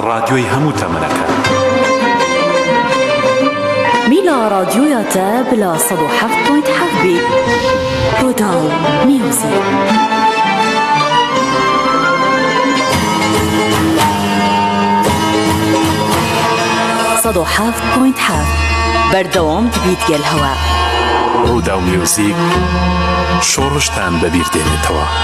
ڕادیۆی هەموو تەمەنەکان. مینا ڕادیۆیە تە بلا سەد و حەفت پۆینت حەفت بی ڕۆداو میوزیک. بەردەوام دەبیت گەل هەوا ڕوودا و میوزیک شۆڕشتان بەبیردێنێتەوە.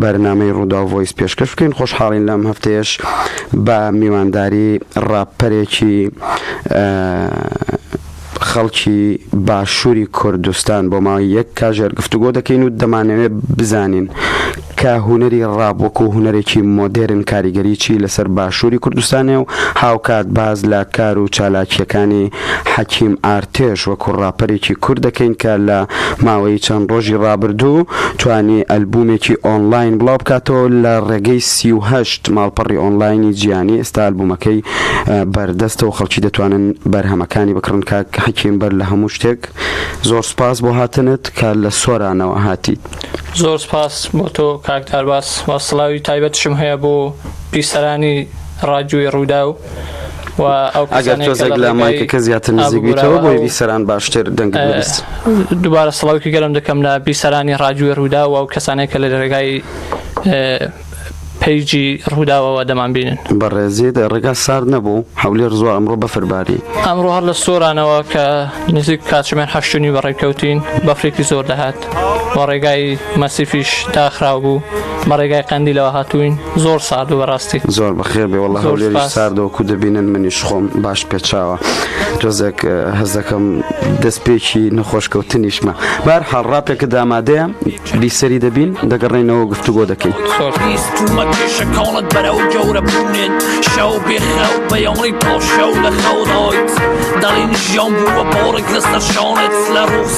بەرنامەی ڕووداو ڤۆیس پێشکەش بکەین خۆشحاڵین لەم هەفتەیەش بە میوانداری ڕاپەرێکی خەڵکی باشووری کوردستان بۆ ماوەی یەک کاژێر گفتوگۆ دەکەین و دەمانەوێت بزانین کە هوەری ڕاب وەکو هوەرێکی مۆدێرن کاریگەریی لەسەر باشووری کوردستانێ و هاوکات باز لە کار و چالاکیەکانی حەکیم ئارتێش وەکو ڕاپەرێکی کورد دەکەین کە لە ماوەی چەند ڕۆژی ڕابردوو توانی ئەلبوومێکی ئۆنلاین بڵاوبکاتەوە لە ڕێگەی سی و هەشت ماڵپەڕی ئۆنلاینی جیهانی ئێستا ئەلبوومەکەی بەردەستە و خەڵکی دەتوانن بەرهەمەکانی بکڕن کاک حەکیم بەر لە هەموو شتێک زۆر سپاس بۆ هاتنت کە لە سۆرانەوە هاتیت. زۆر سپاس بۆ تۆ کاک دارباس وە سڵاوی تایبەتشم هەیە بۆ بیسەرانی ڕادیۆی ڕووداو ئەگەر تۆزێک لە مایکەکە زیاتر نزیکبییتەوە بۆی بیسەران باشتر دەنگ دووبارە سڵاوکی گەلم دەکەم لە بیسەرانی ڕاجوێ ڕوودا و کەسانێک کە لە ڕێگای پیجی ڕووداوەوە دەمان بینن بەڕێزیێت ڕێگا سارد نەبوو هەولێر زۆر ئەمڕۆ بەفرباری ئەمڕۆ هەر لە سۆرانەوە کە نزیک کاتژمێن هەشتنی بەڕێککەوتین بەفرێکی زۆر دەهات وە ڕێگای مەسیفیش داخراو بوو بە ڕێگای قەندیلەوە هاتووین زۆر سارد و بەڕاستی زۆر بەخێر بێ وڵە هەولێری ساردەوەکو دەبینن منیش خۆم باش پێچاوە تۆزێک هەزەکەم دەستپێکی نەخۆشکەوتنیشمە بار حاڵ ڕاپێکە دامادەیە بیسەری دەبین دەگەڕێنەوە گفتوگۆ دەکەین شەکڵت بەرە و گەورە بوونێن شەو بێخراو بەیەوەی پاڵ شەو لە خەوڕۆیت دەڵین ژیان بووە پۆڕێک لەسەر شانێت لە ڕوخ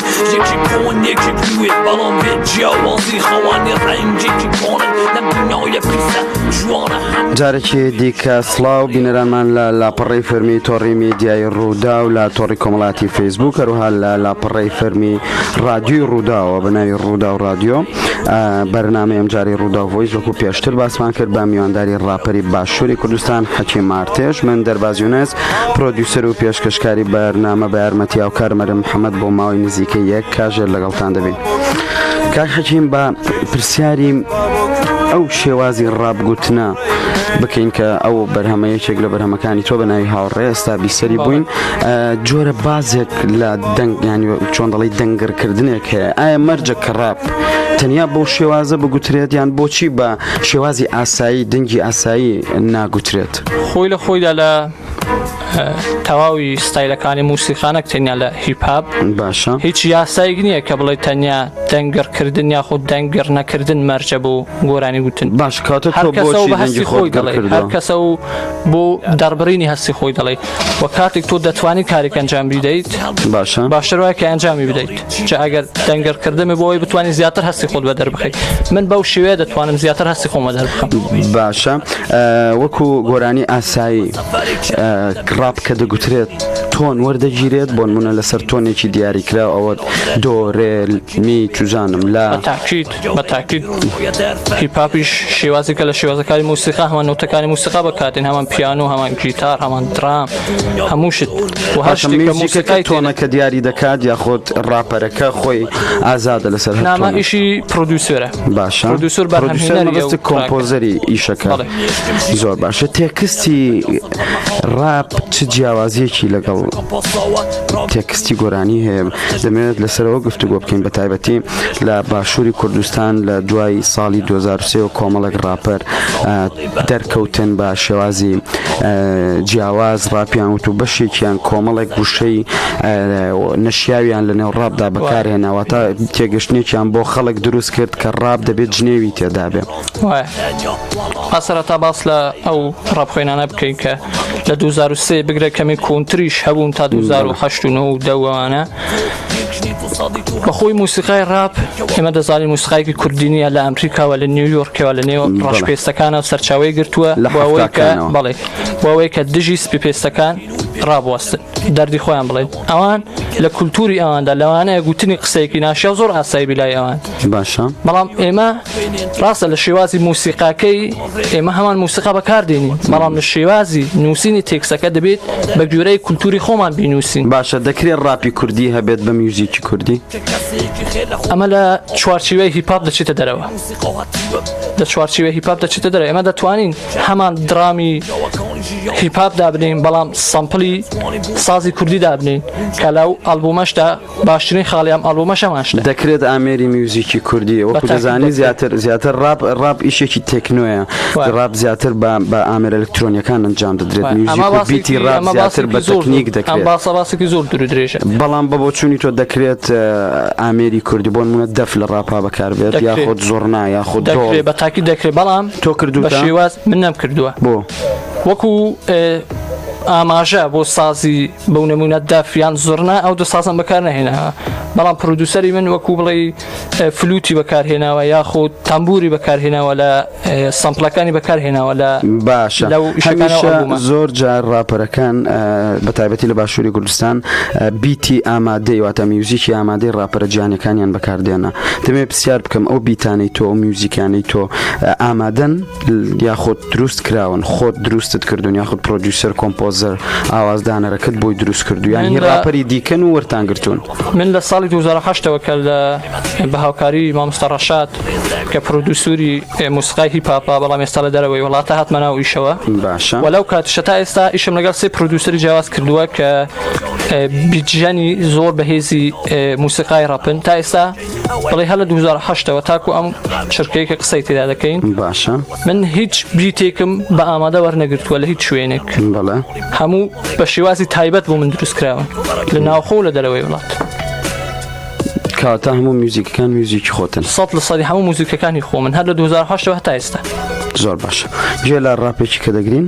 یەکی کۆن یەکی بوێت بەڵام بێ جیاوازی خەوانی ڕەنجێکی کۆنن لەم دنیاە پیسە جوانە هەم جارێکی دیکە سڵاو بینەرانمان لە لاپەڕی فەرمی تۆڕی میدیای ڕوودا و لە تۆڕی کۆمەڵاتی فەیسبوو کەروها لە لاپەڕی فەرمی ڕادیوی ڕووداوە بە ناوی ڕوودا و ڕادیۆ بەرنامەی ئەمجاری ڕوودا ڤۆیس وەکو پێشتر باسمان کرد بە میوانداری ڕاپەری باشووری کوردستان حەکی مارتێش من دەربازیونەس پرۆدیوسەر و پێشکەشکاری بەرنامە بە یارمەتیاو کارمەرم حەمەد بۆ ماوەی نزیکە یەک کاژێر لەگەڵتان دەبین کاک حەکیم بە پرسیاری ئەو شێوازی ڕابگوتنە بکەین کە ئەو بەرهەمەیەکێک لە بەرهەمەکانی تۆ بە ناوی هاوڕێ ئێستا بیسەری بووین جۆرە بازێک لە دەنگ یانی چۆن دەڵی دەنگرکردنێک هەیە ئایا مەرجە کە ڕاپ تەنیا بۆ شێوازە بگوترێت یان بۆچی بە شێوازی ئاسایی دەنگی ئاسایی ناگوترێت خۆی لە خۆیدا لە تەواوی ستایلەکانی موسیقانەک تەنیا لە هیپاب باشە هیچ یاسایک نییە کە بڵێ تەنیا دەنگڕکردن یاخود دەنگڕ نەکردن مەرجە بۆ گۆرانی وتن باش کاتە هەر کەسە و بەهستی خۆی دەڵێ هەر کەسە و بۆ دەربڕینی هەستی خۆی دەڵێ و کاتێک تۆ دەتوانی کارێک ئەنجام بیدەیت باشە باشتر وایە کە ئەنجامی بدەیت چە ئەگەر دەنگەرکردنمە بۆی بتانی زیاتر هەستی خۆت بە دەربخیت من بەو شێوێ دەتوانم زیاتر هەستی خۆمە دەربخم باشە وەکو گۆرانی ئاسایی ڕاپ کە دەگوترێت تۆن وەردەگیرێت بۆن منە لەسەر تۆنێکی دیاریکرا ئەوە دۆرێ می چزانم لا تاکیت بە تاکید هیپاپیش شێوازێکە لە شێوازەکانی موسیقا هەمان نوتەکانی موسیقا بەکاتێن هەمان پیان و هەمان گیتار هەمان درام هەموو شت و هەر شتێکە موسیقای تۆنەکە دیاری دەکات یاخۆت ڕاپەرەکە خۆی ئازادە لەسەر نامە ئیشی پرۆدیوسێرە باشە پرۆدیوسەر بەرهەمهێنەری کۆمپۆزەری ئیشەکە زۆر باشە تێکستی ڕاپ چ جیاوازیەکی لەگەڵ تێکستی گۆرانی هەیە دەمەوێت لەسەرەوە گفتوگۆ بکەین بە تایبەتی لە باشووری کوردستان لە دوای ساڵی 2023 و کۆمەڵک ڕاپەر دەرکەوتن بە شێوازی جیاواز ڕاپیان وت و بەشێکیان کۆمەڵێک گوشەی نەشیاویان لە نێو ڕابدا بەکارهێناوە تا تێگەشتێکیان بۆ خەڵک دروست کرد کە ڕاب دەبێت جنێوی تێدابێ ئاسەرەتا باس لە ئەو ڕاپخۆێنانە بکەین کە لە 2023 بگرە کەمی کۆنتریش هەبوون تا 2010 دەوانە بەخۆی موسیقای ڕاپ ئێمە دەزانین موسیقایکی کوردی نیە لە ئەمریکاوە لە نیویۆرکەوە لە نێو ڕەش پێستەکانە سەرچاوی گرتووە لەەوەی کە بەڵێ بۆەوەی کە دژی سپی پێستەکان ڕابواستن دەردی خۆیان بڵێن ئەوان لە کولتوری ئەواندا لەوانەیە گوتنی قسەیەکی ناشیا زۆر ئاسایی بیلای ئەوان باشە بەڵام ئێمە ڕاستە لە شێوازی موسیقاکەی ئێمە هەمان موسیقا بەکاردێنین بەڵام لە شێوازی نووسینی تێکسەکە دەبێت بە گوێرەی کولتوری خۆمان بینووسین باشە دەکرێت ڕاپی کوردی هەبێت بە میوزیکی کوردی ئەمە لە چوارچیوەی هیپاپ دەچێتە دەرەوە لە چوارچیوە هیپاپ دەچێتە دەرە ئێمە دەتوانین هەمان درامی هیپاپ دابنین بەڵام سامپلی سازی کوردی دابنین کە لەو ئەلبومەشدا باشترین خاڵی ئەم ئەڵبومەش ئەمان شتە دەکرێت ئامێری میوزیکی کوردی وەکو بەتاکی دەزانی دەکرێت. زیاتر زیاتر ڕاپ ڕاپ ئیشێکی تەکنۆیە وای. ڕاپ زیاتر بە بە ئامێر ئەلکترۆنیەکان ئەنجام دەدرێت وای. میوزیک ئەمە و باسێکی- بیتی ڕاپ ئەمە زیاتر باسێکی بە زۆر- تەکنیک ئەم دەکرێت باسە باسێکی زۆر دوور و درێژە بەڵام بە بۆچوونی تۆ دەکرێت اه، ئامێری کوردی بۆ نمونە دەف لە ڕاپا بەکاربێت دەکرێت. یاخود زۆرنا یاخود دەکرێت دۆڵ بە تاکی دەکرێت بەڵام تۆ بە کردوتە شێواز من نەم کردووە بۆ وەکو ئه، ئاماژە بۆ سازی بۆ نمونە دەف یان زڕنا ئەو دو سازم بەکار نهێناوە بەڵام پرودوسەری من وەکو بڵێ فلوتی بەکارهێناوە یاخود تەمبوری بەکارهێناوە لە سمپلەکانی بەکارهێناوە لە باشە زۆر جار راپەرەکان بە تایبەتی لە باشووری کوردستان بیتی ئامادەی واتە میوزیکی ئامادەی راپەرە جیانەکانیان بەکاردێنە دەمێ پرسیار بکەم ئەو بیتانەی تۆ میوزیکانەی تۆ ئامادەن یاخود دروست کراون خۆت دروستت کردوون یاخود پرۆدیوسەر کۆمپۆزەر ئاوازدانەرەکەت بۆی دروست کردو یان هی راپەری دیکەن و وەرتان گرتوون من لە ساڵی 2010ەوە کە لە بە هاوکاری مامۆستا ڕەشاد کە پرۆدوسوری موسقای هی پاپا بەڵام ئێستا لە دەرەوەی وڵاتە هاتمە ناو ئیشەوە باشە وەلو کاتشە تا ئێستا ئیشم لەگەڵ سێ پرۆدوسری جیاواز کردووە کە بیجیانی زۆر بەهێزی موسیقای ڕەپن تا ئێستا بەڵی هەلە دوزار حشتەوە تاکو ئەم چرکەیە کە قسەی تێدا دەکەین باشە من هیچ بریتێکم بە ئامادە وەرنەگرتووە لە هیچ شوێنێک بەڵێ هەموو بە شێوازی تایبەت بۆ من دروستکراون لە ناوخۆ لە دەرەوەی وڵات کاتە هەموو میوزیکەکان میوزیکی خۆتن سە لە سەری هەموو موزیکەکانی خۆ من هەر لە 2010 هەتا ئێستا زۆر باش گوێ لە ڕاپێکی کە دەگرین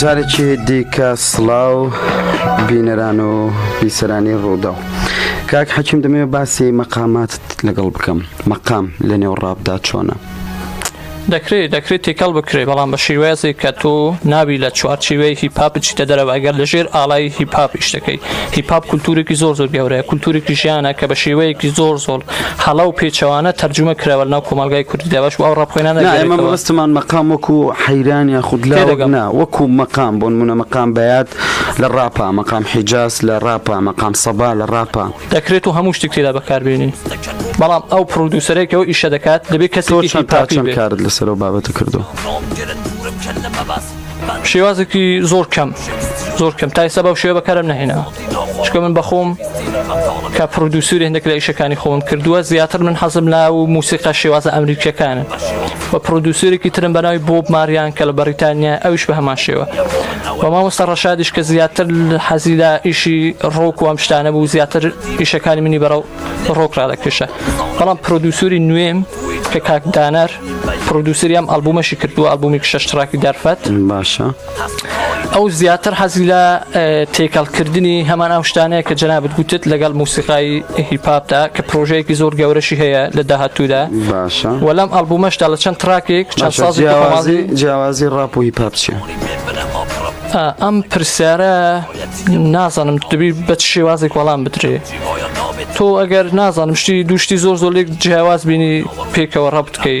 جارێکی دیکە سڵاو بینەران و بیسەرانی ڕووداو کاک حەکیم دەمێ باسی مەقامات لەگەڵ بکەم مەقام لە نێو ڕابدا چۆنە دەکرێت دەکرێت تێکەڵ بکرێت بەڵام بە شێوازێک کە تۆ ناوی لە چوارچیوەی هیپاپ بچیتە دەرەوە ئەگەر لەژێر ئالای هیپاپ شتەکەی هیپاپ کولتورێکی زۆر زۆر گەورەیە کولتورێکی ژیانە کە بە شێوەیەکی زۆر زۆر هەڵە و پێچەوانە تەرجمە کراوە لەناو کۆمەلگای کوردیدا باش ئەو ڕاپخۆێنانەمەبستمان مەقام وەکو حەیران یا خودلەگەنا وەکو مەقام بۆن منە مەقام بەات لە ڕاپا مەقام حیجاز لە ڕاپا مەقام سەبا لە ڕاپا دەکرێت و هەموو شتێک تێدا بەکاربێنین بەڵام ئەو پرودوسەرێکەوە ئیشە دەکات دەبێ کەسەوە تاچەند کارت لەسەر و بابەتە کردو شێوازێکی زۆر کەم زۆر کەم تایسە بەو شێوە بەکارم نهێنەوە. چکە من بەخۆم کە پرۆدوسوری هەندێک لە ئیشەکانی خۆم کردووە زیاتر من حەزم لا و موسیقا شێوازە ئەمریکیەکانە بە پرۆدوسورێکی ترم بەناوی بۆب ماریان کە لە بەریتانیا ئەوش بە هەمان شێوە بە مامۆستا ڕەشادیش کە زیاتر حەزی لە ئیشی ڕۆک وام شتانە بوو زیاتر ئیشەکانی منی بەرەو ڕۆک ڕادەکێشە بەڵام پرۆدوسوری نوێم کە کاکدانەر پرۆدوسریام ئەلبومەشی کردووە ئەلبومی شەشتراکی دەرفەت باشە. ئەو زیاتر حەزی لە تێکەڵکردنی هەمان ئەو شتانەیە کە جەنابت گوتت لەگەڵ موسیقای هیپاپدا کە پرۆژەیەکی زۆر گەورەشی هەیە لە داهاتوودا باشە و لەم ئەلبومەشدا لە چەند تراکێک چەند باشە سازێکی جیاوازی خۆمازی جیاوازی ڕاپ و هیپ هاپ چیە ئا، ئەم پرسیارە نازانم دەبی بە چ شێوازێک وەڵام بدرێ تۆ ئەگەر نازانم شتی دوو شتی زۆر زۆر لێک جیاواز بینی پێکەوە ڕەبت کەی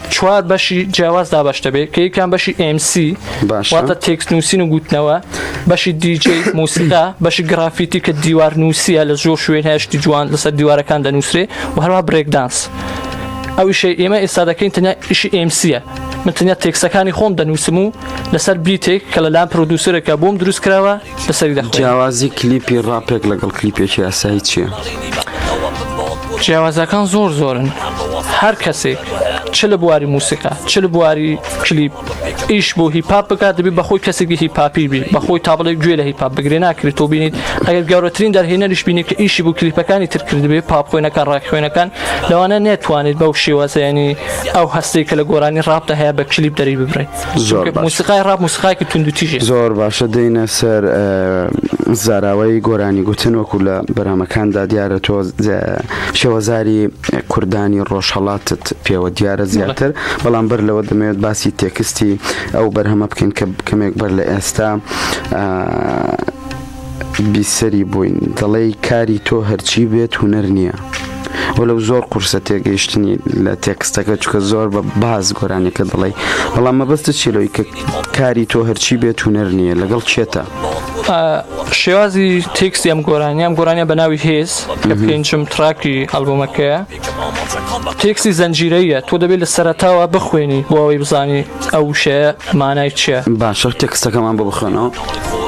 چوار بەشی جیاواز دابش دەبێت کە یکان بەشی MC واتە تێکس نووسین و گوتنەوە بەشی دیJ موسیقا بەشی گرافیتی کە دیوار نووسە لە زۆر شوێن هەشتی جوان لەسەر دیوارەکان دەنووسێ و هەروە برێکدانس ئەویشەی ئێمە ئێستا دەکەین تەنیا ئیشی ئمسیە من تەنیا تێکسەکانی خۆم دەنووسم و لەسەر بیتێک کە لەلام پرۆدوسرێکە بۆم دروست کراوە جیاوازی کلیپی ڕاپێک لەگەڵ کلیپێکی ئاسایی چییە؟ جیاوازەکان زۆر زۆرن هەر کەسێک چ لە بواری موسیقا چ لە بواری کلیپ ئیش بۆ هیپاپ بکات دەبی بەخۆی کەسێکی هیپاپی بی بەخۆی تابڵێک گوێ لە هیپاپ بگرێ ناکرێت تۆ بینیت ئەگەر گەورەترین دەرهێنەریش بینێت کە ئیشی بۆ کلیپەکانی تر کردبێ پاپ خوێنەکان ڕاک خوێنەکان لەوانە نێتوانێت بەو شێوازیانی ئەو هەستێک کە لە گۆرانی ڕاپدا هەیە بە کلیپ دەری ببرێت. زۆر موسیقای ڕاپ موسیقایکی توندوتیژی زۆر باشە دێنە سەر زاراوەی گۆرانی گوتن وەکو لە بەرامەکاندا دیارە تۆ شێوەزاری کوردانی ڕۆژهڵاتت پێوە دیارە زیاتر بەڵام بەر لەوە دەمەوێت باسی تێکستی ئەو بەرهەمە بکەین کە کەمێک بەر لە ئێستا بیسەری بووین دەڵێی کاری تۆ هەرچی بێت هونەر نییە و لەو زۆر قورسە تێگەیشتنی لە تێکستەکە چکە زۆر بە باز گۆرانەکە دەڵێ بەڵام مەبەستە چیلۆی کە کاری تۆ هەرچی بێت هونەر نییە لەگەڵ چێتە شێوازی تێکسی ئەم گۆرانیان گۆرانە بە ناوی هێز کە پێنجم تراکی هەڵبوومەکەیە تێکستی زنجیرەییە تۆ دەبێت لە سەرەتاوە بخوێنی بۆ ئەوەی بزانی ئەو وشەیە مانای چیە باشە تێکستەکەمان بۆ بخوێنەوە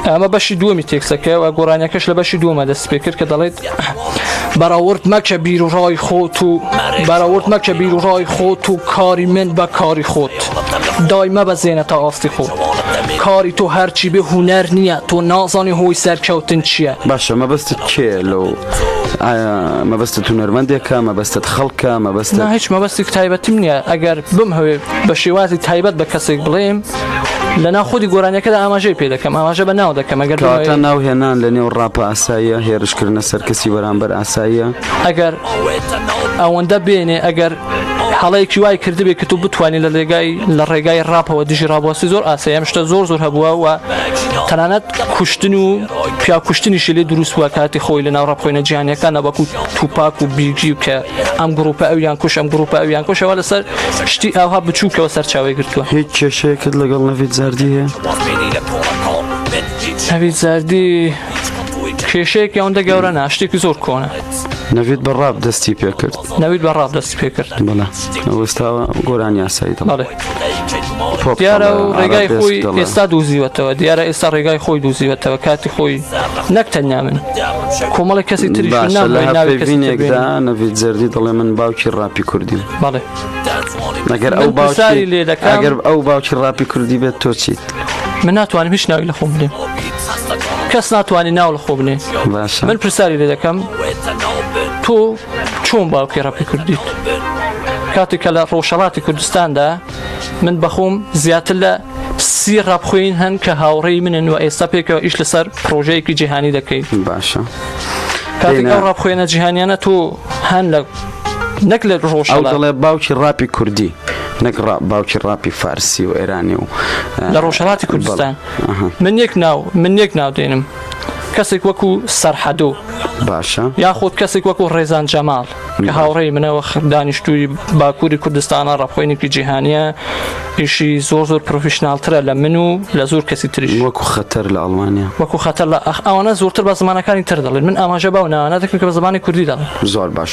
ئەمە بەشی دووەمی تێکسەکە و گۆرانیەکەش لە بەشی دوومە دەست پێ کرد کە دەڵێت بەراورد مەکە بیر و ڕای خۆت و بەراورد مەکە بیر و ڕای خۆت و کاری من بە کاری خۆت دای مەبەزێنە تا ئاستی خۆت کاری تۆ هەرچی بێ هوەر نییە تۆ نازانی هۆی سەرکەوتن چییە باشە مەبەستت کێ لەو ئایا مەبەستت هونەرمەندێکە مەبەستت خەڵکە مەبەست هیچ مەبەستێک تایبەتیم نییە ئەگەر بم هەوێ بە شێوازی تایبەت بە کەسێک بڵێم لەنا خودی گۆرانەکەدا ئاماژەی پێ دەکەم ئاماژە بە ناو دەکەم ئەگەر تا ناو هێنان لە نێو ڕاپە ئاساییە هێرشکردنە سەرکەسی بەرامبەر ئاساییە ئەگەر ئەوەندە بێنێ ئەگەر حاڵەیەکی وای کردبێ کە تو بتوانین لە لێگای لە ڕێگای ڕاپەوە دژی ڕابواسی زۆر ئاسەیە شتە زۆر زۆر هەبووە و تەنانەت کوشتن و پیاو کوشتنیشی لێ دروست بووە کاتی خۆی لە ناو ڕاپخۆینە جیانەکان نەبکو توپاک و بیگی کە ئەم گروپە ئەویان کوش ئەم گروپە ئەویان کوشەوە لەسەر شتی ئاها بچووکەوە سەرچاوی گرتووە هیچ کێشەیەکت لەگەڵ نەڤید زەردی هەیە نەڤید زەردی کێشەیەک یاوندە گەورە ناشتێکی زۆر کۆنە نەوید بە ڕاب دەستی پێکرد نەوید بە ڕاب دەستی پێکرد بەڵێ ئەوەستاوە گۆران یاسایی دەڵێ دیارە و ڕێگای خۆی ئێستا دوزیوەتەوە دیارە ئێستا ڕێگای خۆی دوزیوەتەوە کاتی خۆی نەک تەنیا من کۆمەڵی کەسی تری نەڤید زەردی دەڵێ من باوکی ڕاپی کوردیم بەڵێ نەگەر ئەو باشاری لێ دەکەگەر ئەو باوکی ڕاپی کوردی بێت تۆ چیت من ناتوانم هیچ ناوی لە خۆم بێ کەس ناتوانانی ناو لە خۆ بنێ من پرسیاری لێ دەکەم تۆ چۆن باوکی ڕەپی کوردیت کاتێک کە لە ڕۆژەڵاتی کوردستاندا من بەخۆم زیاتر لە سی ڕابخۆین هەن کە هاوڕێی منن و ئێستا پێکەوە ئیش لەسەر پرۆژەیەکی جیهانی دەکەیت باشە کاتێک ئەو ڕابخۆێنە جیهانیانە تۆ هەن لە نەک لە ڕۆژ دەڵێ باوکی ڕاپی کوردی نەک باوکی ڕاپی فارسی و ئێرانی و لە ڕۆژهڵاتی کوردستان من یەک ناو من یەک ناو دێنم کەسێک وەکو سەرحەدۆ باشە یاخود کەسێک وەکو ڕێزان جەماڵ کە هاوڕێی منەوە دانیشتووی باکووری کوردستانە ڕەخۆینێکی جیهانیە ئیشی زۆر زۆر پرۆفیشنناڵترە لە من و لە زۆر کەسی تریش وەکو خەتەر لە ئەڵمانیا وەکو خەتەر لە ئەخ ئەوانە زۆرتر بە زمانەکانی تر دەڵێن من ئاماژە باو ناوانە دەکەم کە بە زمانی کوردی دەڵێن زۆر باش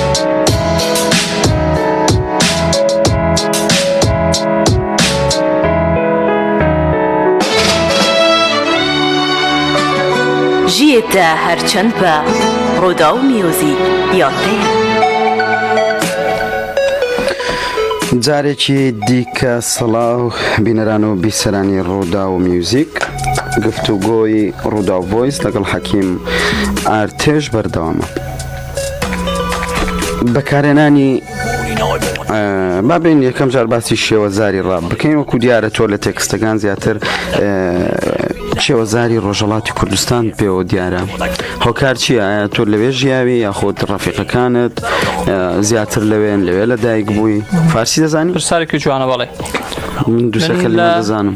ژیێتە هەرچەند بە ڕۆدا و میۆزی یاتەیە جارێکی دیکە سەڵاو بینەران و بیسەرانی ڕوودا و میوزیک گفتوگۆی ڕوودا و ڤۆیس لەگەڵ حەکیم ئارتێش بەردەوامە. بەکارێنانی بابین یەکەم جار باسی شێوەزاری ڕاب بکەین وەکو دیارە تۆ لە تێکستەکان زیاتر شێوەزاری ڕۆژەڵاتی کوردستان پێوە دیارە هۆکار چیە تۆ لەوێ ژیاوی یاخۆت ڕەفیقەکانت زیاتر لەوێن لەوێ لە دایک بووی فارسی دەزانانی پرسارێکی جوانە بەڵێ من دوسەکە لە دەزانم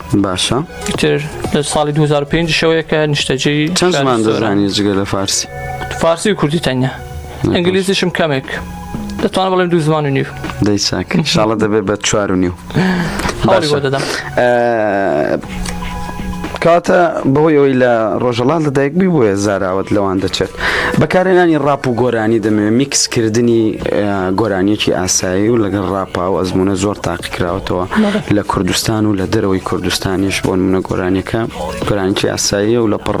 باشە ئیتر لە ساڵی 2005 شەوەیەکە نیشتەجێی چەند زمان دەزانی جگە لە فارسی فارسی و کوردی تەنیا ئەنگلیزیشم کەمێک دەتوان بڵێم دوو زمان و نیو دەی چاک شاڵە دەبێت بە چوار و نیو دەدەم کاتە بەهۆی ئەوی لە ڕۆژەڵات لە دایکبی بۆیە زاراوت لەوان دەچێت بەکارێنانی ڕاپ و گۆرانی دەمێ میکسکردنی گۆرانیەکی ئاسایی و لەگەڵ ڕاپا و ئەزمونە زۆر تاقی کراوەتەوە لە کوردستان و لە دەرەوەی کوردستانیش بۆن منە گۆرانیەکە گۆرانکی ئاساییە و لە پڕ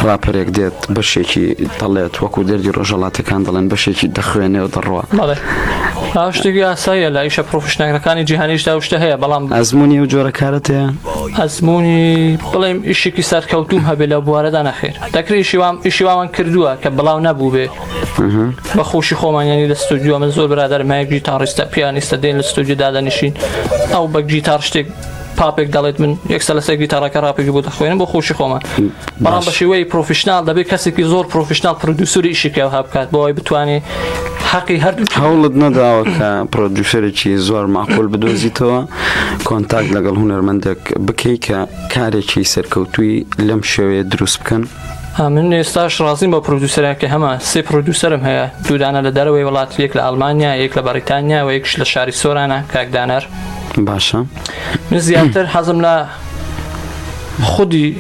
ڕاپەرێک دێت بەشێکی دەڵێت وەکو دەردی ڕۆژەڵاتەکان دەڵێن بەشێکی دەخوێنێ و دەڕوە شتێکی ئاساییە لە ئیشە پرۆفشنەکەەکانی جیهانیشدا شتە هەیە بەڵام ئەزمموی و جۆرەکارت هەیە ئەزمموی بڵێم ئیشێکی سەرکەوتوم هەبێ لە بوارەدا نەخێر دەکرێت شیوام ئیشیوامان کردووە کە بڵاو نەبوو بێ بە خۆشی خۆمانیانی لە ستودیو من زۆر برادر مایبی تا ڕیستە پیانیستە دێن لە ستودیو دادەنیشین ئەو بە گیتار شتێک پاپێک دەڵێت من یەکسە لەسەر گیتارەکە ڕاپێکی بۆ دەخوێنم بۆ خۆشی خۆمان بەڵام بە شێوەی پرۆفیشنال دەبێت کەسێکی زۆر پرۆفیشنال پرودوسری ئیشێکەوە هەبکات بۆی بتوانێ حەقی هەردوو هەوڵت نەداوە کە پرۆدوسەرێکی زۆر ماقول بدۆزیتەوە کۆنتاک لەگەڵ هوەرمەندێک بکەیت کە کارێکی سەرکەوتوی لەم شێوەیە دروست بکەن من ئێستاش ڕازیم بە پرودوسەرە کە هەمە سێ پرودوسەرم هەیە دوودانە لە دەرەوەی وڵات یەک لە ئەلمانیا یەک لە بەریتانیا و یەکش لە شاری سۆرانە کاکدانەر باشە من زیاتر حەزم لە خودی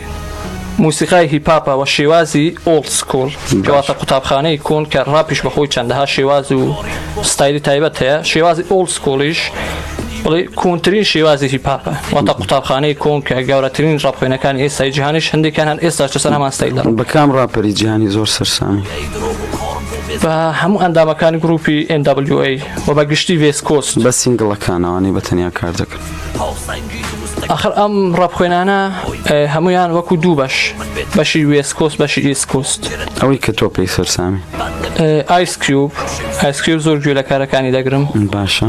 موسیقای هیپاپە وە شێوازی ئۆڵد سکۆل کەواتە قوتابخانەی کۆن کە ڕاپیش بەخۆی چەندەها شێواز و ستایلی تایبەت هەیە شێوازی ئۆڵد سکۆڵیش بڵێ کۆنترین شێوازێکی پاپە واتە قوتابخانەی کۆن کە گەورەترین ڕاپخێنەکان ئێستای جیهانیش هەندێکان هەن ئێستا چە سەرمان ستایدا بەکام ڕاپەری جیهانی زۆر سەرسامی بە هەموو ئەندامەکانی گروپی NWA و بە گشتی ڤێسکۆست بە سنگڵەکانەوانی بە تەنیا کار دەکەن ئەخر ئەم ڕەبخێنانە هەمویان وەکو دوو بەش بەشی وێسکۆست بەشی ئیسکوست ئەوەی کە تۆ پێی سەرسامی ئایسکیوب ئایسکیوب زۆر گوێ لە کارەکانی دەگرم باشە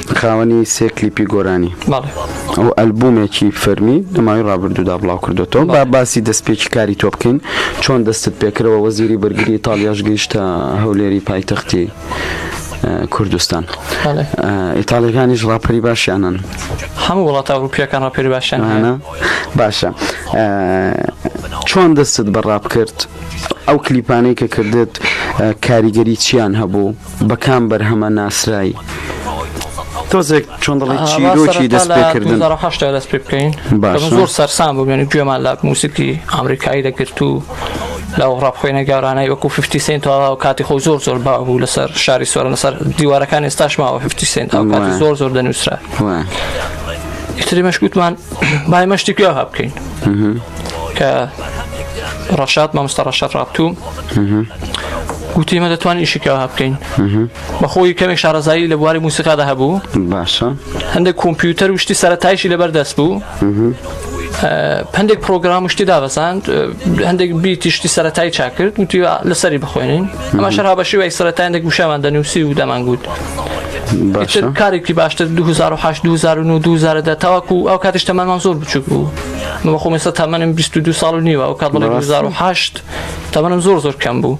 خاوەنی سێ کلیپی گۆرانی بەڵێ ئەو ئەلبومێکی فەرمی لەماوەی ڕابردوودا بڵاو کردوێتەوە با باسی دەستپێکی کاری تۆ بکەین چۆن دەستت پێکرەوە وەزیری بەرگری ئیتاالیاش گەیشتە هەولێری پایتەختی کوردستان ئیتاالەکانیش ڕاپەری باشیانن هەموو وڵات ئەوروپیەکان ڕاپەری باشیانە باشە چۆن دەستت بەڕاب کرد ئەو کلیپانەی کە کردت کاریگەری چیان هەبوو بە کام بەرهەمە ناسرای؟ تۆزێک چۆن دڵی چیرۆکی دەست پێکردن دەست پێ بکەین زۆر سەرسان بوو بێنی گوێمان لە موسیقی ئەمریکایی دەگرت و لە ڕاپخۆێنە گەورانای وەکو ففتی سنت تەواو کاتی خۆ زۆر زۆر با بوو لەسەر شاری سۆرە لەسەر دیوارەکان ئێستاش ماوە ففتی سنت ئەو کاتی زۆر زۆر دەنووسرا ئیتری مەشکوتمان بای مەشتی گوێ هەبکەین کە ڕەشاد مامۆستا ڕەشاد ڕابتوو وتی مە دەتوانین ئیشکەوە بکەین بەخۆی کەمێک شارەزایی لە بواری موسیقادا هەبوو باشە هەندێک کۆمپیوتەر وشتی سەرتایشی لەبەر دەست بوو هەندێک پرۆگرام شتی دابەزاند هەندێک بیتی شتی سەتای چاکرد وتی لەسەری بخوێنین ئەمە شەرها بە شێوەی سەتایندێک گوشەمان دەنووسی و دەمانگووت کارێکی باشتر 2008 2009 2010 تاواکو ئەو کاتیش تەمەمان زۆر بچوک بوو مەخۆمەستا تەمەنم 22 ساڵ و نیوە ئەو کات بڵێ 2008 تەمەنم زۆر زۆر کەم بوو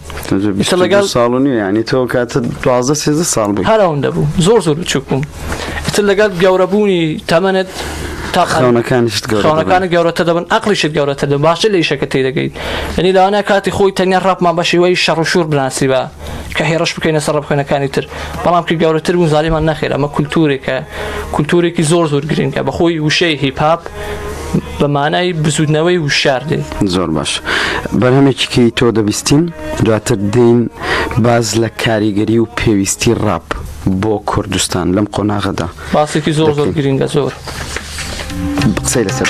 لەگەڵ ساڵ و نیە ینی تۆ کاتە دوازدە سێزە ساڵ بوو هەر ئەوەندە بوو زۆر زۆر بچوک بووم ئیتر لەگەڵ گەورەبوونی تەمەنت تاخانەکانشتخانەکانی گەورەتە دەبن ئەقلیشت گەورەتە دە باشە لە یشەکە تی دەگەیت ئەنی لاوانە کاتی خۆی تەنیا ڕاپمان بەشیوەی شەڕشور بناسی بە کە هێرش بکەینە سەر بخێنەکانی تر بەڵام کە گەورەتر بوو زانیمان نەخێرە ئەمە کولتورێکە کولتورێکی زۆر زۆر گرنگە بەخۆی وشەی هیپاپ بە مانای بزوتنەوەی وشار دێت زۆر باش بەرهەمێکیکەی تۆ دەبیستین دواتر دین باز لە کاریگەری و پێویستی ڕاپ بۆ کوردستان لەم قۆناغەدا باسێکی زۆر زۆر گرنگە زۆر قسەی لەسەر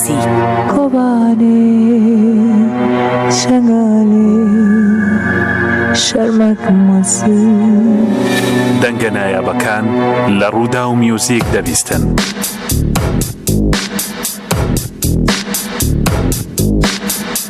سیاسی. کۆبانێ شەنگالی شەرمەک مەسوور. دەنگە نایابەکان لە ڕووداو میوزیک دەبیستن.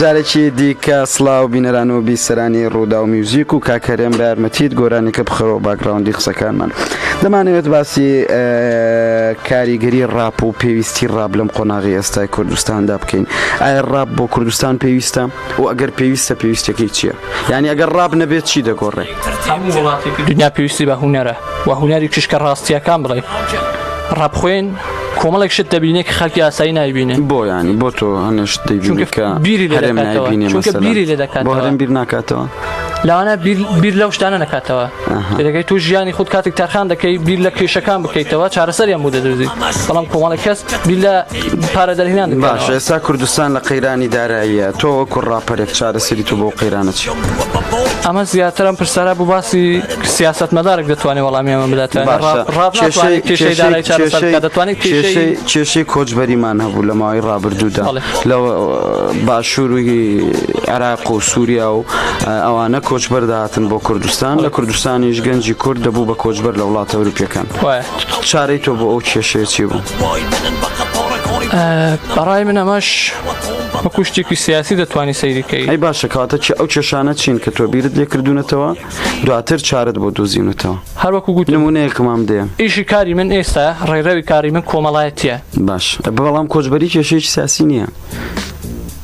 جارێکی دیکە سلااو بینەران و بیسەرانی ڕوودا و میوزیک و کاکەرێن بە یارمەتیت گۆرانێکە بخەرەوە باگراوندی قسەکانمان دەمانەوێت باسی کاریگەری ڕاپ و پێویستی ڕاب لەم قۆناغی ئێستای کوردستاندا بکەین ئایا ڕاب بۆ کوردستان پێویستە؟ و ئەگەر پێویستە پێویستەکەی چییە یعنی ئەگەر ڕاب نەبێت چی دەگۆڕێ هەموو وڵاتێکی دنیا پێویستی بە هوەرە و هوەری کشکە ڕاستیەکان بڵێ ڕابخۆێن کۆمەڵێک شت دەبینێک خەکی ئاسایی نایبینێ بۆ ینی بۆ تۆ هەنێشت دەیبینکە بیری لەرێم نایبینێ بیری لێ دەکات بۆ هەرم بیر ناکاتەوە لاوانە بیر لەو شتانە نکاتەوە دەکەیت تو ژیانی خود کاتێک تەرخان دەکەی بیر لە کێشەکان بکەیتەوە چارەسەریان بۆ دەدوزی بەڵام کۆمەڵی کەس بیر لە پارە دەرهێنان باش ئێستا کوردستان لە قەیرانی داراییە تۆ وەکو ڕاپەرێک چارەسەری تو بۆ قەیرانە چی ئەمە زیاترم پرسارا بۆ باسی سیاست مەدارێک دەتوانێت وەڵامی ئەمە بداتوان دەتوانێت کێشەی کۆچبەریمان هەبوو لە ماوەی ڕابردوودا لە باشووری عراق و سووریا و ئەوانە کۆچبەردا هاتن بۆ کوردستان لە کوردستانیش گەنجی کورد دەبوو بە کۆچبەر لە وڵاتە ئەوروپیەکان چارەی تۆ بۆ ئەو کێشەیەچی بوو بەڕای من ئەمەش بە کوشتێکی سیاسی دەتوانانی سەیریکەی ئەی باشە کاتە چ ئەو کێشانە چین کە تۆ بیرت لێکردونەتەوە دواتر چارت بۆ دۆزیونەتەوە هەروەکو گوت نمونەیەکمان دێ ئیشی کاری من ئێستا ڕێرەوی کاری من کۆمەڵایەتە باش بەڵام کۆچبەری کێشەیەکی سیاسی نییە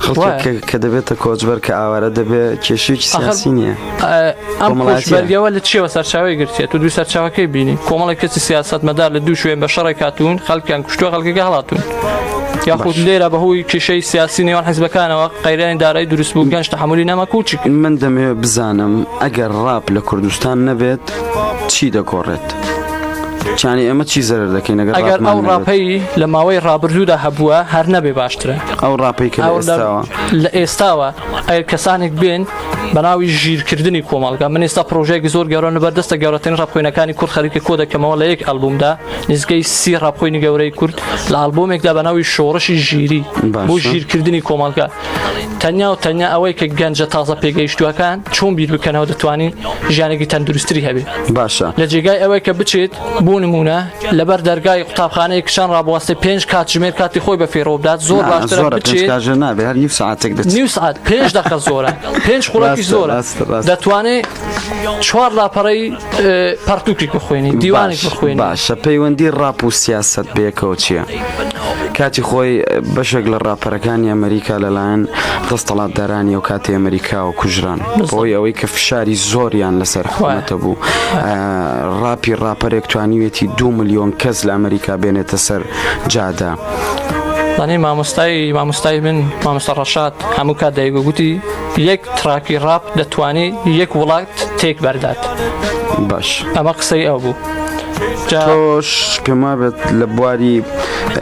خەڵکێک کە دەبێتە کۆچبەر کە ئاوارە دەبێت کێشێکی سیاسی نییە ئەمەڵاتیبەرگەوە لە چیەوە سەرچاوی گرتێت و دوو سەرچاوەکەی بینی کۆمەڵی کەسی سیاست مەدار لە دوو شوێن بە شەڕێک هاتوون خەڵکیان کوشتووە خەڵکەکە هەڵاتون یاخود لێرە بەهۆی کیشەی سیاسی نێوان حزبەکانەوە قەیرانی دارایی دروست بوو گەنج تحملی نەمە کوچی من دەمەوێت بزانم ئەگەر ڕاپ لە کوردستان نەبێت چی دەگۆڕێت؟ چانی ئەمە چی زەرر دەکەین ئەگەر ئەگەر ئەو ڕاپەی لە ماوەی ڕابردوودا هەبووە هەر نەبێ باشترە ئەو ڕاپەی کە لە ئێستاوە ئەگەر کەسانێک بێن بەناوی ژیرکردنی کۆمەڵگە من ئێستا پرۆژێکی زۆر گەورە لە بەردەستە گەورەترین ڕاپخۆینەکانی کورد خەریکە کۆ دەکەمەوە لە یەک ئەلبومدا نزگەی سی ڕاپخۆینی گەورەی کورد لە ئەلبومێکدا بەناوی شۆڕشی ژیری بۆ ژیرکردنی کۆمەڵگە تەنیا و تەنیا ئەوەی کە گەنجە تازە پێگەیشتووەکان چۆن بیر بکەنەوە دەتوانین ژیانێکی تەندروستری هەبێت باشە لە جێگای ئەوەی کە بچێت بۆ نمونە لەبەر دەرگای قوتابخانەی کچان ڕابوەستێ پێنج کات ژمێر کاتی خۆی بە فێرۆ بدات زۆر باشتر ساعتێک نیو ساعت پێنج دقە زۆرە پێنج خوراکی زۆرە دەتوانێت چوار لاپەڕەی پەرتوکێک بخوێنی دیوانێک بخوێن باشە پەیوەندی ڕاپ و سیاست بێکەوە چییە؟ کاتی خۆی بەشێک لە ڕاپەرەکانی ئەمریکا لەلایەن دەستەڵاتدارانی و کاتی ئەمریکا و کوژران بۆی ئەوەی کە فشاری زۆریان لەسەر خواتە بوو ڕاپی ڕاپەرێک توانیوێتی دو میلیۆن کەس لە ئەمریکا بێنێتە سەر جادە. دانێ مامۆستای مامۆستای من مامۆستا ڕەشاد هەموو کات دایگوگوتی یەک تراکی ڕاپ دەتوانێ یەک وڵات تێک بەردات باش ئەمە قسەی ئەو بوو تۆش پێما بێت لە بواری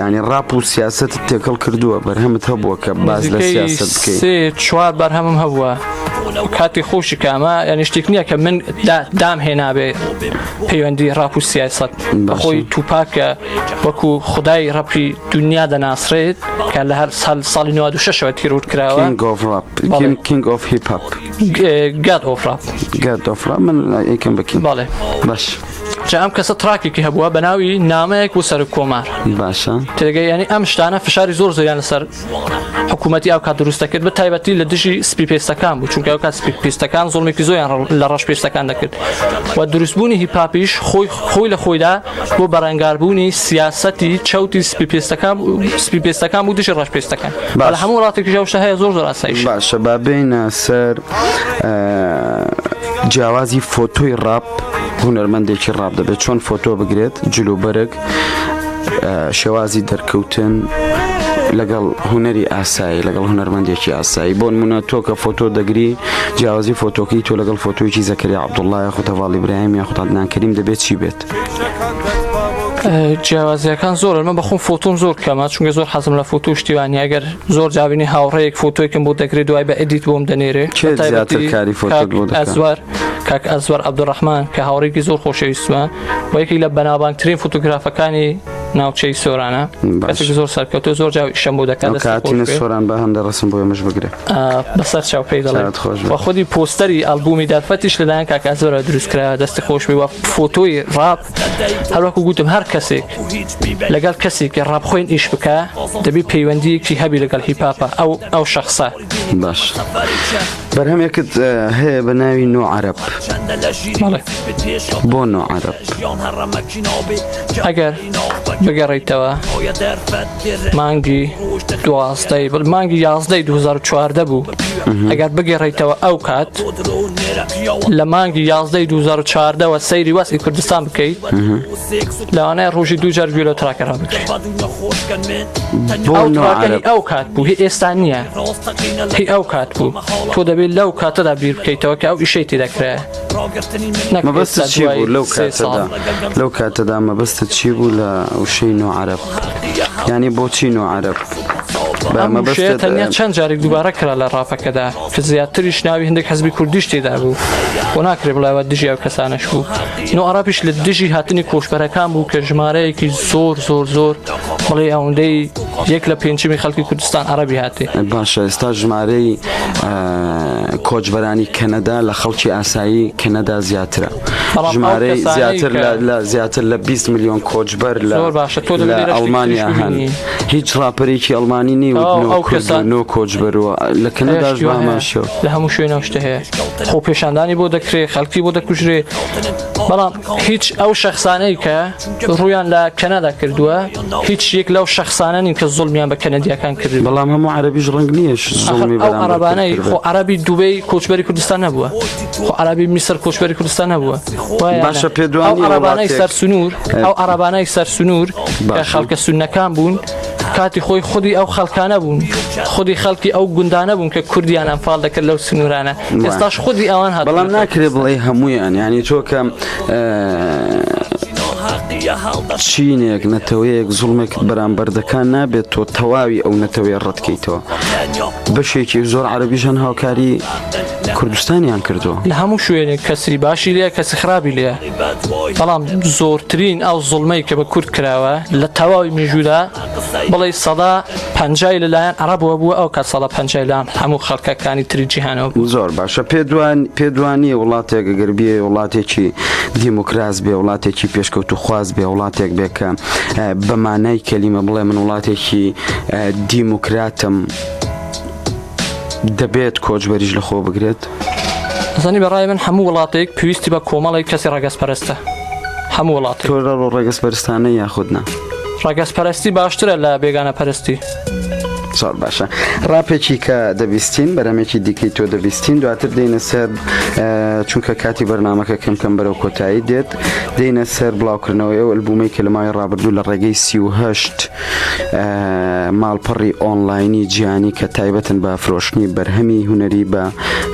ینی ڕاپ و سیاست تێکەڵ کردووە بەرهەمت هەبووە کە باز لە سیاست بکەیت چوار بەرهەمم هەبووە کاتی خۆشی کامە یعنی شتێک نییە کە من دام هێنابێ پەیوەندی ڕاپ و سیاست بەخۆی توپاکە وەکو خدای ڕەپی دونیا دەناسرێت کە لە هەر سال ساڵی 96ەوە تیرور کراوە کینگ ئۆف هیپ گاد ئۆفرا گاد ئۆفرا من یکم بکەین باڵێ باش جا ئەم کەسە تراکێکی هەبووە بە ناوی نامەیەک و سەر کۆمار باشە تێگەی ینی ئەم شتانە فشاری زۆر زۆریان لەسەر حکوومەتتی ئەو کا دروستە کرد بە تایبەتی لە دژی سپی پێستەکان بوو چونکە کات سپی پێستەکان زۆڵمێکی زۆیان لە ڕەش پێستەکان دەکرد و دروستبوونی هیپاپیش خۆی خۆی لە خۆیدا بۆ بەرەنگاربوونی سیاسەتی چەوتی سپیپێستەکان سپیپێستەکان بوو دژی ڕەشپێستەکان بەڵ هەموو وڵاتێکی شەوشە هەیە زۆر زۆراسایش باشە بابێنە سەر جیاوازی فۆتۆی ڕاپ هونەرمەندێکی ڕاپ دەبێت چۆن فۆتۆ بگرێت جلوبەرگ شێوازی دەرکەوتن لەگەڵ هوەری ئاسایی لەگەڵ هوەرمەندێکی ئاسایی بۆن منە تۆکە فۆتۆ دەگری جیاوازی فۆتۆکی تۆ لەگەڵ فۆتۆیی زەکریا عەبدوڵڵا یاخود هەڤاڵ ئیبراهیم یاخود عەدنان کەریم دەبێت چی بێت؟ جیاوازیەکان زۆر من بەخۆم فۆتۆم زۆر کەمە چونگە زۆر حەزم لە فۆتو شتیوانی ئەگەر زۆر جاوینی هاوڕەیەک فۆتۆیکم بۆ دەگری دوای بە ئەدیت بۆم دەنێرێ ئەزوار کاک ئەزوار عبدڕحمان کە هاوڕێکی زۆر خۆشەویستمە وەیەکی لە بەناوانترین فۆتوگرافەکانی ناوچەی سۆرانە زۆر سەرکەوتو زۆر جاویشەم بۆ دەکات سۆران بە هەندە ڕسم بۆ ئێمەش بگرە. بەسەر چاوپی دەڵێت وە خودی پۆستەری ئەلبومی دەرفەتیش لەلایەن کاکە ئەزۆرە دروستکرا دەستی خۆشبی وە فۆتۆی ڕاپ هەروەکو گوتم هەر کەسێک لەگەڵ کەسێکی ڕاپ خۆین ئیش بکە دەبی پەیوەندیەکی هەبی لەگەڵ هیپاپە ئەو ئەو شخصە باش بەرهەمێکت هەیە بە ناوی نۆ عرب بۆ نۆ عرب ئەگەر بگەڕیتەوە مانگی دوازدەی بڵ مانگی یازدەی 2014 بوو ئەگەر بگەڕیتەوە ئەو کات لە مانگی یازدەی 2014ەوە سەیری وەسی کوردستان بکەیت لەوانەیە ڕۆژی دوو جار گوێلە تراکەرا بکرێت ئەو کات بوو هی ئێستا نییە هی ئەو کات بوو تۆ دەبێت لەو کاتەدا بیر بکەیتەوە کە ئەو ئیشەی تی دەکرێت لەو کاتەدا مەبەستە چی بوو لە وشەی نۆعاعرب یانی بۆچی نۆ عرب بەمەبشێ تەنیا چەند جارێک دووبارە کرا لە ڕاپەکەدا کە زیاتریش ناوی هەندێک حزبی کوردیش تێدا بوو بۆ ناکرێ بڵاوە دژی ئەو کەسانش بوو نۆ عراپیش لە دژی هاتنی کۆشبەرەکان بوو کە ژمارەیەکی زۆر زۆر زۆر بڵێ ئەوەندەی یەک لە پێنجمی خەڵکی کوردستان عربی هاتێ باشە ئێستا ژمارەی کۆچبەرانی کەنەدا لە خەڵکی ئاسایی کەنەدا زیاترە. ژمارەی زیاتر لە زیاتر لە 20 میلیۆن کۆچبەر لە ئەڵمانیا هەن هیچ ڕاپەرێکی ئەڵمانی نیوەنۆ کۆچبەرەوە لە کەنەداش باماشە لە هەموو شوێنە شتە هەیە خۆ پێشاندانی بۆ دەکرێ خەڵکی بۆ دەکوژرێ بەڵام هیچ ئەو شخصانەی کە ڕویان لە کەنەدا کردووە هیچ یەک لەو شخصانە نین کە زۆڵمیان بە کەنەدیەکان کرد بەڵام هەموو عربیش ڕنگ نییە عربانەی خۆ عربی دوبەی کۆچبەری کوردستان نەبووە خۆ عربی میسر کۆچبەری کوردستان هەبووە باشە پێدوانی عربانای سەر سنوور ئەو عربانای سەر سنوور خەڵکە سونەکان بوون کاتی خۆی خودی ئەو خەڵکانە بوون خودی خەڵکی ئەو گوندانە بوون کە کوردیان ئەمفال دەکرد لەو سنوورانە ئێستاش خودی ئەوان هە بەڵام ناکرێ بڵێ هەمویان ینی چۆکەم چینێک نەتەوەیەک زوڵمێک بەرامبەردەکان نابێت تۆ تەواوی ئەو نەتەوەیە ڕەتکەیتەوە بەشێکی زۆر عربیژەن هاوکاری کوردستانیان کردووە. لە هەموو شوێنێک کەسی باشی لێ کەسی خراپی لێ بەڵام زۆرترین ئەو زڵمەی کە بە کورد کراوە لە تەواوی میژودا بڵێ سەدا پەنجای لەلایەن عربەوە بووە ئەو کە سەدا پەنجای لام هەموو خەڵکەکانی تری جیهانەوە بوو زۆر باشە پێدوان پێدوانی وڵاتێک گەر بێ وڵاتێکی دیموکراس بێ وڵاتێکی پێشکەوت و خواز بێ وڵاتێک بێکە بەمانای کەلیمە بڵێ من وڵاتێکی دیموکراتم. دەبێت کۆچبەریش لە خۆ بگرێت. ئەزانی بە ڕای من هەموو وڵاتێک پێویستی بە کۆمەڵێک کەسی ڕەگەز پەرستە هەموو وڵات ڕەگەز پەرستانە یاخودنا ڕەگەز پەرستی باشترە لە بێگانە پەرستی زۆر باشە ڕاپێکی کە دەبیستین بەرەمێکی دیکەی تۆ دەبیستین دواتر دێنە سەر چونکە کاتی بەرنمەکە کەم کەم بەرەو کۆتایی دێت دێنە سەر بڵاوکردنەوەی ئەو ئەلبوومەی کە لە ماوەی ڕابردوو لە ڕێگەی سیهشت ماڵپەڕی ئۆنلاینی جیانی کە تایبەتن بە فرۆشتنی بەرهەمی هوەری بە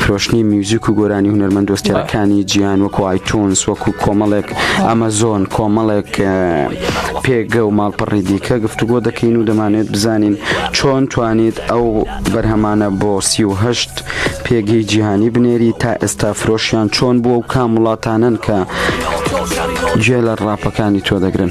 فرۆشتنی میوزیک و گۆرانی هوەرمەند دۆستیەکانی جیان وەکو ئایتونس وەکو کۆمەڵێک ئەمەزۆن کۆمەڵێک پێگە و ماڵپەڕی دیکە گفتوگۆ دەکەین و دەمانێت بزانین چۆن توانیت ئەو بەرهەمانە بۆ سیهشت پێگەی جیهانی بنێری تا ئێستا فرۆشیان چۆن بووە و کام وڵاتانن کە گوێ لە ڕاپەکانی تۆ دەگرن.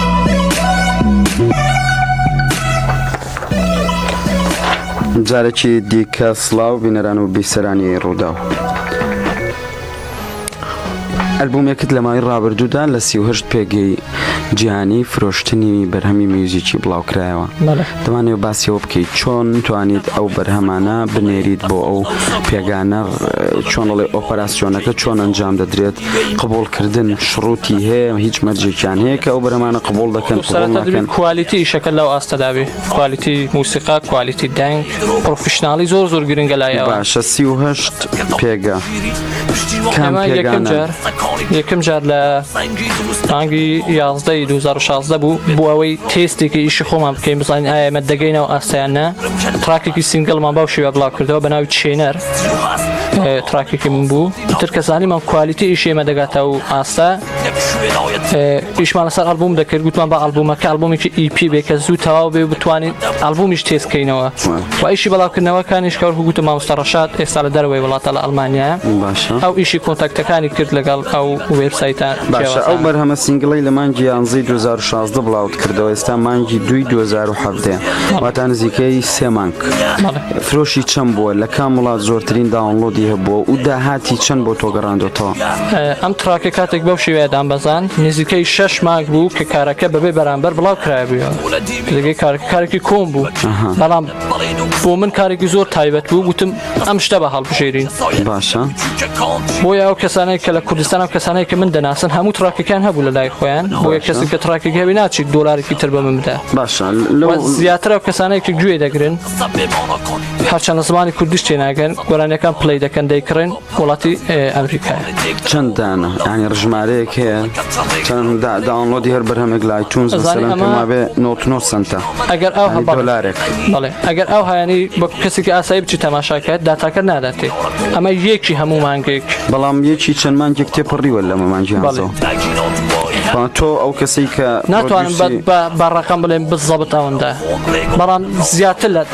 جارێکی دیکە سلااو بینەران و بیسەرانی ڕووداو. ئەلبومێکت لە ماوەی ڕابردوودا لە سیهشت پێگەی جیهانی فرۆشتنی بەرهەمی میوزیکی بڵاوکرایەوە دەمانەوێت باسی ئەوە بکەیت چۆن توانیت ئەو بەرهەمانە بنێریت بۆ ئەو پێگانە چۆن دەڵێ ئۆپەراسسیۆنەکە چۆن ئەنجام دەدرێت قبولکردن شڕوتی هەیە هیچ مەرجێکیان هەیە کە ئەو بەرەمانە قبول دەکەن قبولکەن کوالیتی شەکە لەو ئاستەداوی کوالیتی موسیقا کوالیتی دەنگ پرۆفشنناڵی زۆر زۆر گرنگە لای باشە سیهشت پێگە. یەکەم جار یەکەم جار لە مانگی یازدەی 2016 بوو بۆ ئەوەی تێستێکی ئیشی خۆمان بکەین بزانین ئایمە دەگەینەوە ئاسایانە تراکێکی سنگلمان باو شێوە بڵاو کردەوە بە ناوی چێنەر تراکێکی من بوو تر کەسانیمان کوالیتی ئیشێمە دەگاتە و ئاستا ئیشمان لەسەر ئەلبوم دەکرد گوتمان بە ئەلبومەکە ئەلبومێکی ئیپی بێ کە زوو تەواو بێ بتوانین ئەلبومیش تێزکەینەوە و ئیشی بەڵاوکردنەوەکانیش کار هوگوتە مامۆستا ڕەشاد ئێستا لە دەرەوەی وڵاتە لە ئەلمانیا ئەو ئیشی کۆنتاکتەکانی کرد لەگەڵ ئەو وێبسایتە باشە ئەو بەرهەمە سنگڵی لە مانگی یانزی 2016 بڵاوت کردەوە ئێستا مانگی دوی 2017 واتا نزیکەی سێ مانگ فرۆشی چەند بووە لە کام وڵات زۆرترین داونلۆدی هەبووە و داهاتی چەند بۆ تۆگەڕاندۆتەوە ئەم تراکە کاتێک بەو شێوەیە دامبەزان نزیکەی شش مانگ بوو کە کارەکە بەبێ بەرامبەر بڵاو کرای بووە لەگەی کارکارێکی کۆم بوو بەڵام بۆ من کارێکی زۆر تایبەت بوو گوتم ئەم شتە بە هەڵبژێرین باشە بۆ یا و کەسانێک کە لە کوردستان و کەسانێک کە من دەناسن هەموو تراکەکان هەبوو لە لای خۆیان بۆ کەسی کە تراکێک هەوی ناچیت دۆلارێکی تر بە من بدە باشە زیاتر و کەسانێکی گوێ دەگرن هەرچەند زمانی کوردیش تێناگەن گۆرانەکان پلی دەکەن دەیکڕن وڵاتی ئەمریکا چەند دانە ئەنی ڕژمارەیەک هەیە چەند داونلۆدی هەر بەرهەمێک لای چون بێ 99 سنتە ئەگەر ئەو هەڵارێک بڵێ ئەگەر ئەو هایانی بە کەسێکی ئاسایی بچی تەماشاکات داتاکە ناداتێ ئەمە یەکی هەموو مانگێک بەڵام یەکی چەند مانگێک تێپەڕیوە لە مەمانجی تۆ ئەو کەسی کە ناتوانم بە ڕقم بڵێن بزەبت ئەوەندە بەڵام زیاتر لە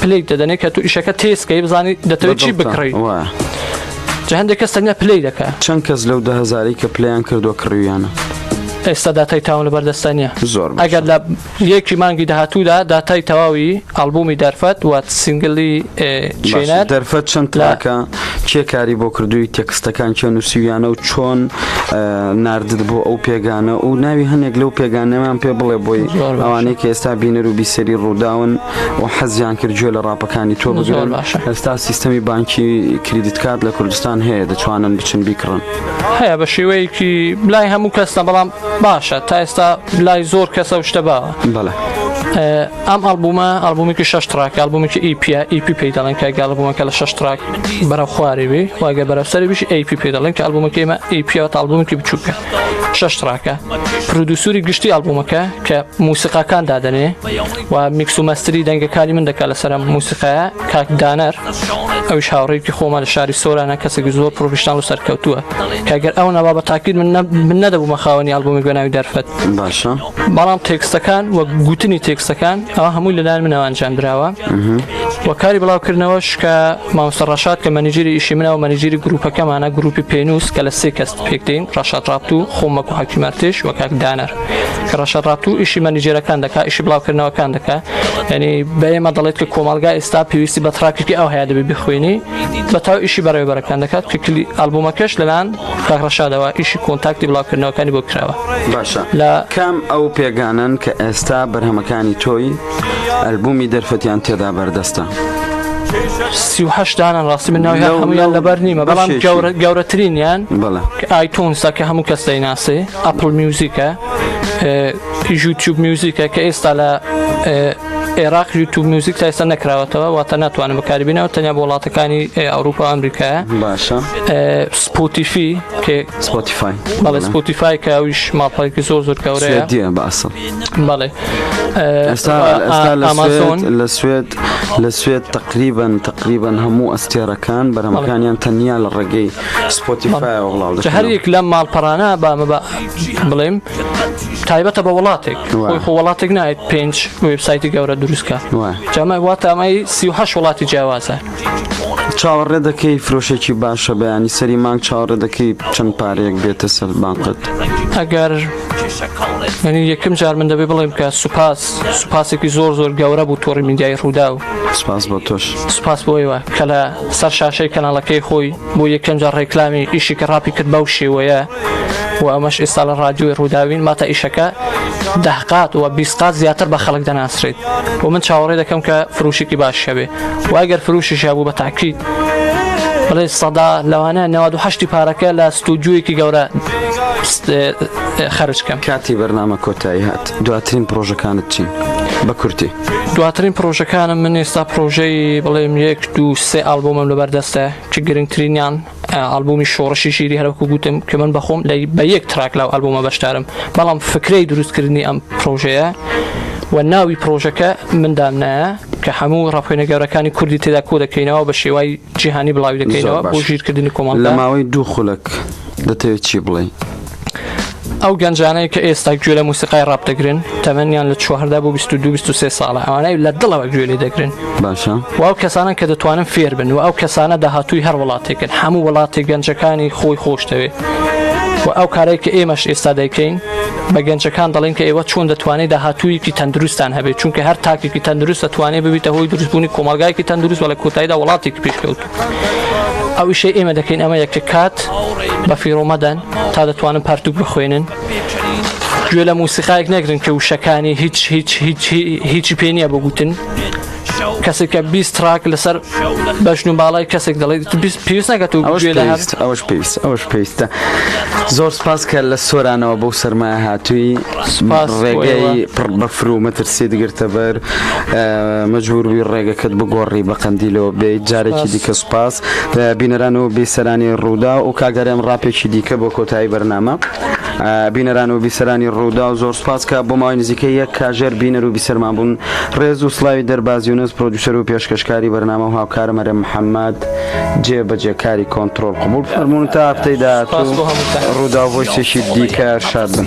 پلی دەدەنێ کە تو ئیشەکە تێسکەی بزانانی دەتەوێت چی بکڕی جە هەندێک کەس تەنیا پلی دەکە چەند کەس لەو دهزاری کە پلیان کردو کڕویانە ئێستا داتای تاون لە بەردەستە نیە زۆر ئەگەر لە یەکی مانگی داهاتوودا داتای تەواوی ئەلبومی دەرفەت وات سنگلی چێنە دەرفەت چەند تراکە کێ کاری بۆ کردووی تێکستەکان کێ نووسیویانە و چۆن نردت بۆ ئەو پێگانە و ناوی هەنێک لەو پێگانەمان پێ بڵێ بۆی ئەوانەی کە ئێستا بینەر و بیسەری ڕووداون و حەزیان کرد گوێ لە ڕاپەکانی تۆ بگرن ئێستا سیستەمی بانکی کریدیت کات لە کوردستان هەیە دەتوانن بچن بیکڕن هەیە بە شێوەیەکی لای هەموو کەسە بەڵام باشە تا ئێستا لای زۆر کەسە شتە باوە بەڵێ ئەم ئەلبومە ئەلبومێکی شش تراکە ئەلبومێکی ئیپیا ئیپی پێی دەڵێن کە گەڵبوومەکە لە شش تراک بەرە خوارێ بێ واگە بەرەسەری بش ئەیپی پێ دەڵێن کە ئەلبومەکەیمە ئیپیا ئەلبومێکی بچووکە شش تراکە پرودوسوری گشتی ئەلبومەکە کە موسیقاکان دادەنێ و میکس و مەستری دەنگەکانی من دەکات لەسەر موسیقاە کاک دانەر ئەوش هاوڕێکی خۆمان لە شاری سۆرانە کەسێکی زۆر پرۆفشنال و سەرکەوتووە کەگەر ئەو نەبا بە تاکیید من من نەدەبوومە خاوەنی ئەلبومی گۆناوی دەرفەت باشە بەڵام تێکستەکان وەک گوتنی تێکستەکان ئەوە هەمووی لەلایەن منەوە ئەنجام دراوە و کاری بڵاوکردنەوەش کە مامۆستا ڕەشاد کە مەنیجری ئیشی منە و مەنیجری گروپەکەمانە گروپی پێنووس کە لە سێ کەس پێکدەین ڕەشاد ڕابت و خۆمەک و حکیمارتێش و کاکدانەر کە ڕەشاد ڕابت و ئیشی مەنیجێرەکان دەکا ئیشی بڵاوکردنەوەکان دەکا ینی بەێمە دەڵێت کە کۆمەلگا ئێستا پێویستی بە تراکێکی ئەو هەیە دەبێ بخوێنی بە تاو ئیشی بەڕێوەبەرەکان دەکات کە کلی ئەلبوومەکەش لەلاان کاک ڕەشاد ئەوە ئیشی کۆنتاکتی بڵاوکردنەوەکانی بۆ کراوە باشە لە کام ئەو پێگانن کە ئێستا بەرهەمەکانی تۆی ئەلبومی دەرفەتیان تێدا بەردەستە سیهشت دانان ڕاستی من ناوی لەو- هەمویان لەو لەبەر نیمە بەڵام بەشێکی. گەورە- گەورەترینیان بەڵێ ئایتونسە کە هەموو کەس دەیناسێ ئەپل میوزیکە اه، یوتیوب میوزیکە کە ئێستا لە اه، عێراق یوتوب میوزیک تا ئێستا نەکراوەتەوە واتە ناتوانم بەکاری بینەوە تەنیا بۆ وڵاتەکانی ئەوروپا ئەمریکایە باشە سپۆتیفی کێ سپۆتیفای بەڵێ سپۆتیفای کە ئەویش ماڵپەرێکی زۆر زۆر کەورەیە دیە باسە بەڵێ ئێستا ئامازۆن لە سوێت لە سوێت تقریبن تقریبن هەموو ئەستێرەکان بەرەمەکانیان تەنیا لە ڕێگەی سپۆتیفای وڵاو هەریەک لەم ماڵپەرانە بامە بڵێم تایبەتە بە وڵاتێک خۆی خۆ وڵاتێک نایێت پێنج وبسایتی گەورە دروستکە جامای واتە ئەمای سیه وڵاتی جیاوازە چاوەڕێ دەکەی فرۆشێکی باشە بەیانی سەری مانگ چاوەڕێ دەکەی چەند پارەیەک بێتە سەر بانقت ئەگەر منی یەکم جار من دەبێ بڵێم کە سوپاس سوپاسێکی زۆر زۆر گەورە بوو تۆڕی میدیای ڕوودا و سپاس بۆ تۆش سپاس بۆیوە کە لە سەر شاشەی کەناڵەکەی خۆی بۆ یەکەم جار ڕێکلامی ئیشی کە ڕاپی کرد بەو شێوەیە و ئەمەش ئیستا لە ڕادیۆی ڕووداوین ماتە ئیشەکە دەهقات و بیسقات زیاتر بە خەڵک دەناسرێت و من چاوەڕێ دەکەم کە فروشێکی باش هەبێ و ئەگەر فروشی شابوو بە تاکیت بڵێ سەدا لەوانە نەواد و هەشتی پارەکە لە ستودیویەکی گەورە خەرج کەم کاتی بەرنامە کۆتایی هات دواترین پرۆژەکانت چین بە کورتی دواترین پرۆژەکانم من ئێستا پرۆژەی بڵێم یەک دو سێ ئالبومم لەبەردەستە چ گرنگترینیان ئەلبومی شۆڕشی شیری هەرکو گوتم کە من بەخۆم لە بە یەک تراک لاو ئەلبومە بەشدارم بەڵام فکرەی دروستکردنی ئەم پرۆژەیە و ناوی پرۆژەکە مندام نایە کە هەموو ڕاپۆینە گەورەکانی کوردی تێدا کۆ دەکەینەوە بە شێوای جیهانی بڵاوی دەکەینەوە بۆ ژیرکردنی کۆمەڵ لە ماوەی دوو خولەک دەتەوێت چی بڵێ؟ ئەو گەنجانەی کە ئێستا گوێ لە موسیقای ڕاپ دەگرن تەمەنیان لە چواردا بۆ 22 ساڵە ئەوانەی لە دڵەوە گوێ لێ دەگرن باشە و ئەو کەسانە کە دەتوانن فێر بن و ئەو کەسانە داهاتووی هەر وڵاتێکن هەموو وڵاتی گەنجەکانی خۆی خۆش دەوێت و ئەو کارێک کە ئێمەش ئێستا دەیکەین بە گەنجەکان دەڵێن کە ئێوە چۆن دەتوانێت داهاتوویەکی تەندروستان هەبێت چونکە هەر تاکێکی تەندروست دەتوانێت ببیتە هۆی دروستبوونی کۆمەلگایکی تەندروست وە لە کۆتاییدا وڵاتێک پێشکەوت ئەو ئیشەی ئێمە دەکەین ئەمە یەکە کات بە فیڕۆمەدەن تا دەتوانن پارتوک بخوێنن گوێ لە موسیقایك نەگرن کە وشەکانی هیچ هیچ هیچ هیچی پێ نییە بگوتن کەسێکە بیست تراک لەسەر بەشن و باڵای کەسێک دەڵێت پێویست نەکەت و ئەوش پێویست ئەوش پێویستە زۆر سپاس کە لە سۆرانەوە بۆ سەرمایە هاتووی ڕێگەی پڕ بەفر و مەترسی دگرتە بەر مەجبوروی ڕێگەکەت بگۆڕی بە قەندیلەوە بیت جارێکی دیکە سوپاس بینەران و بیسەرانی ڕوودا و کاگەرێم ڕاپێکی دیکە بۆ کۆتایی بەرنامە بینەران و بیسەرانی ڕوودا و زۆر سپاس کە بۆ ماوەی نزیکە یەک کاژێر بینەر و بیسەرمان بوون ڕێز و سلاوی دەربازیونەس پرۆدیوسەر و پێشکەشکاری بەرنامە و هاوکارە مەرە محەممەد جێ بەجێکاری کۆنتترۆل قبول فەرمونون تا هەفتەی داهاتوو ڕوودا بۆ شتێکی دیکە شاد بن.